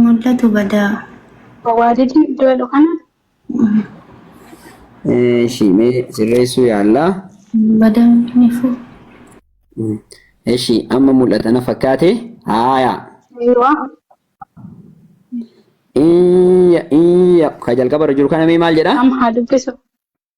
Mul'atu badaa. Wawaadidni iddoo jedhu kana Eshi mee sirreessuu yaallaa. Badaa nifu. Eshi amma mul'ata na fakkaate haayaa. yeroo Iyya iyya ka jalqabarra jiru kana mee maal jedha? am haa dubbisu.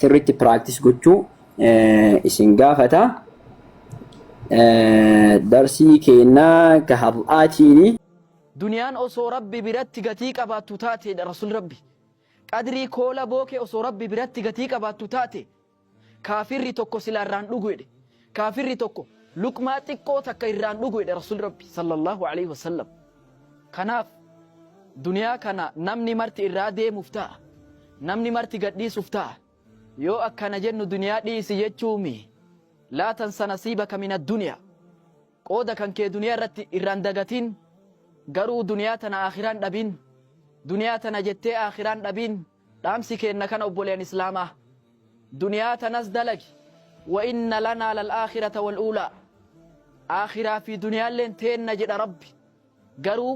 sirriitti practice gochuu isin gaafata. Darsii keennaa ka har'aatiini. Duniyaan osoo Rabbi biratti gatii qabaattu taate jedha Rasuulli Rabbi. Qadrii koola bookee osoo Rabbi biratti gatii qabaattu taate kaafirri tokko silaa irraa hin dhugu jedhe. Kaafirri tokko luqmaa xiqqoo takka irraan dhugu jedhe Rasuulli Rabbi sallallahu aleyhi wasallam. Kanaaf duniyaa kana namni marti irraa deemuuf ta'a. Namni marti gadhiisuuf ta'a. Yoo akkana jennu duniyaa dhiisi jechuumi. Laa tansa nasiibaka min adduniyaa. Qooda kan kee duniyaa irratti irraan dagatiin. Garuu duniyaa tana aakhiraan dhabiin. Duniyaa tana jettee aakhiraan dhabiin. Dhaamsi keenna kana obboleyan islaamaa duniyaa tanas dalagi wa inna lanaa lal aakhirata wal uulaa aakhiraa fi duniyaalleen teenna jedha rabbi garuu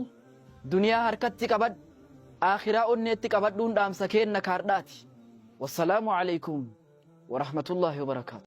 duniyaa harkatti qabadhu aakhiraa onneetti qabadhuun dhaamsa keenna ka hardhaati wassalaamu aleykum warahmatullaahi wabarakaatu.